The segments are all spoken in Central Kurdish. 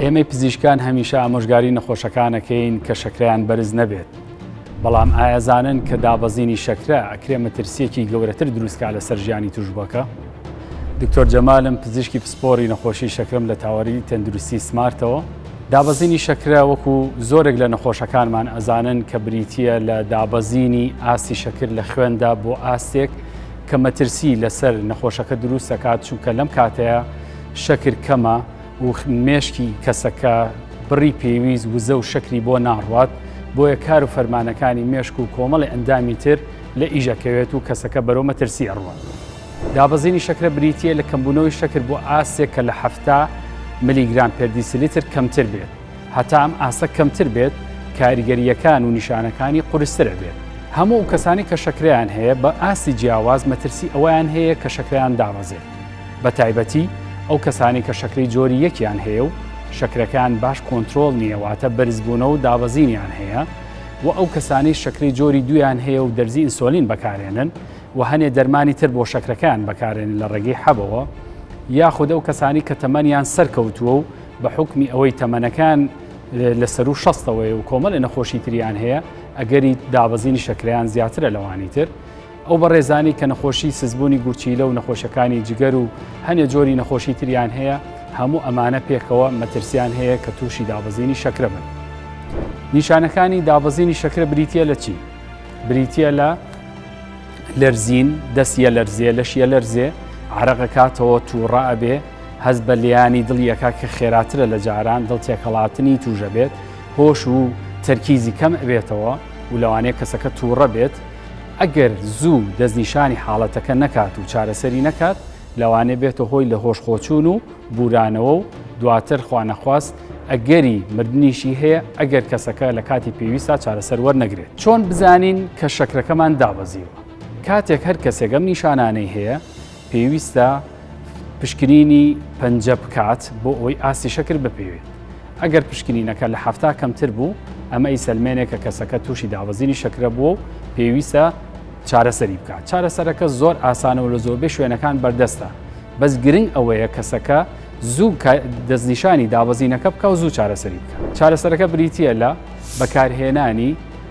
ئێمەی پزیشکان هەمیشە ئامۆژگاری نەخۆشەکانەکەین کە شەکرەیان بەرز نەبێت بەڵام ئایەزانن کە دابەزینی شەکرە ئەکرێ مەترسیەکی گەورەتر دروستکە لەسەر ژیانی توشبەکە دکتۆر جەمالم پزیشکی پسپۆری نەخۆشی شەکرم لە تاوەری تەندروستی سمارتەوە دابەزینی شەکرە وەکو زۆرێک لە نەخۆشەکانمان ئەزانن کە بریتە لە دابەزینی ئاستی شەکر لە خوێندا بۆ ئاستێک کە مەترسی لەسەر نەخۆشەکە دروست دەکات چونکە لەم کاتەیە شەکر کەمە و مێشکی کەسەکە بڕی پێویست وزە و شەکری بۆ ناڕوات بۆیە کار و فەرمانەکانی مێشک و کۆمەڵی ئەندامی تر لە ئیژەکەوێت و کەسەکە بەرەو مەترسی ئەڕوات. دابەزینی شەکرە بریتییە لە کەمبوونەوەی شەکر بۆ ئاستێک کە لە حەفتا ملیگرام پێردیسلیتر کەمتر بێت، هەتا ئەم ئاستە کەمتر بێت کاریگەرییەکان و نیشانەکانی قورستر ئەبێت. هەموو ئەو کەسانەی کە شەکرەیان هەیە بە ئاستی جیاواز مەترسی ئەوەیان هەیە کە شەکرەیان دابەزێت. بەتایبەتی ئەو کەسانەی کە شەکرەی جۆری یەکیان هەیە و شەکرەکەیان باش کۆنترۆڵ نییە واتە بەرزبوونەوە و دابەزینیان هەیە و ئەو کەسانەی شەکرەی جۆری دویان هەیە و دەرزی ئینسۆلین بەکارێنن و هەنێ دەرمانی تر بۆ شەکرەکەیان بەکارێنن لە ڕێگەی حەبەوە یاخود ئەو کەسانی کە تەمەنیان سەرکەوتووە و بە حکمی ئەوەی تەمەنەکان لە سەر و شەستەوەی و کۆمەڵی نەخۆشی تریان هەیە ئەگەری دابەزینی شەکریان زیاترە لەوانی تر ئەو بەڕێزانەی کە نەخۆشی سزبوونی گورچیلە و نەخۆشەکانی جگەر و هەنێ جۆری نەخۆشی تریان هەیە هەموو ئەمانە پێکەوە مەترسیان هەیە کە تووشی دابەزینی شەکرە بن. نیشانەکانی دابەزینی شەکرە بریتە لە چی؟ بریتە لە لەرزین، دەست یە لەرزێ، لەش یە لەرزێ، عرەقەکاتەوە تووڕە ئەبێ، هەز بە لیانی دڵیەکە کە خێراترە لە جاران دڵ تێکەڵاتنی توژە بێت، هۆش و تەرکیزی کەم ئەبێتەوە و لەوانەیە کەسەکە تووڕە بێت، ئەگەر زوو دەستنیشانی حاڵەتەکە نەکات و چارەسەری نەکات لەوانەیە بێتە هۆی لە هۆش خۆچوون و بورانەوە و دواتر خوانەخواست ئەگەری مردنیشی هەیە ئەگەر کەسەکە لە کاتی پێویستا چارەسەر وەرنەگرێت. چۆن بزانین کە شەکرەکەمان دابەزیوە؟ کاتێک هەر کەسێک ئەم نیشانانەی هەیە پێویستە پشکنینی پەنجە بکات بۆ ئەوەی ئاستی شەکر بپێوێت ئەگەر پشکنینەکە لە هەفتا کەمتر بوو ئەمە ئی سلمێنێک کە کەسەکە تووشی دابەزینی شەکرە بووە و پێویستە چارەسەری بکات چارەسەرەکە زۆر ئاسانەوە لە زۆربەی شوێنەکان بەردەستە بەس گرنگ ئەوەیە کەسەکە زوو دەستنیشانی دابەزینەکە بکە و زوو چارەسەری بکە چارەسەرەکە بریتە لە بەکارهێنانی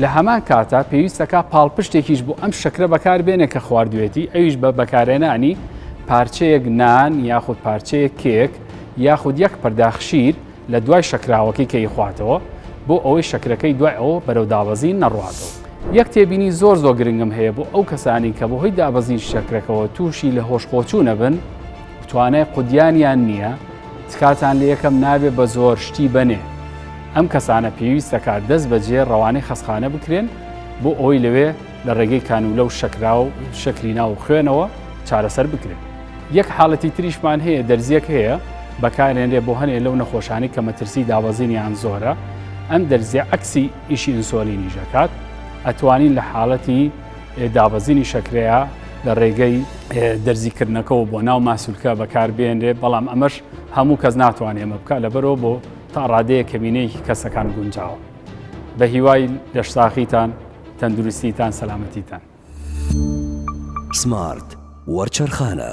لە هەمان کاتا پێویستە کا پاڵپشتێکیش بۆ ئەم شەکرە بەکار بێنێ کە خواردوێتی ئەویش بە بەکارێنانی پارچەیەک نان یاخود پارچەیە کێک یاخود یەک پەرداخشیر لە دوای شەکراوەکەی کەی خواتەوە بۆ ئەوەی شەکرەکەی دوای ئەوە بەرەو دابەزین نەڕاتەوە. یەک تێبینی زۆر زۆر گرنگم هەیە بۆ ئەو کەسانی کە بەهۆی دابەزین شەکرەکەەوە تووشی لە هۆشخۆچوو نەبن توانای قودیانیان نییە تکاتان لەکەم نابێ بە زۆر شتی بەنێ ئەم کەسانە پێویستەکات دەست بەجێ ڕەوانەی خەسخانە بکرێن بۆ ئەوەی لەوێ لە ڕێگەی کانوولە و شەکرا و شەکری ناو خوێنەوە چارەسەر بکرێن یەک حاڵەتی تریشمان هەیە دەرزیەک هەیە بەکارێنرێ بۆ هەنێ لەو نەخۆشانی کە مەترسی دابەزینیان زۆرە ئەم دەرزیە عکسی ئیشی ئینسۆلینی ژەکات ئەتوانین لە حاڵەتی دابەزینی شەکرەیە لە ڕێگەی دەرزیکردنەکەەوە بۆ ناو ماسولکە بەکاربێنرێت بەڵام ئەمەش هەموو کەس ناتوانێت ئەمە بکە لەبەرەوە بۆ تا ڕادەیە کەمینەیەکی کەسەکان گونجاوە بە هیوای لەشساخیتان تەندروستیتان سەلامەتیتان سمارت وەرچەرخانە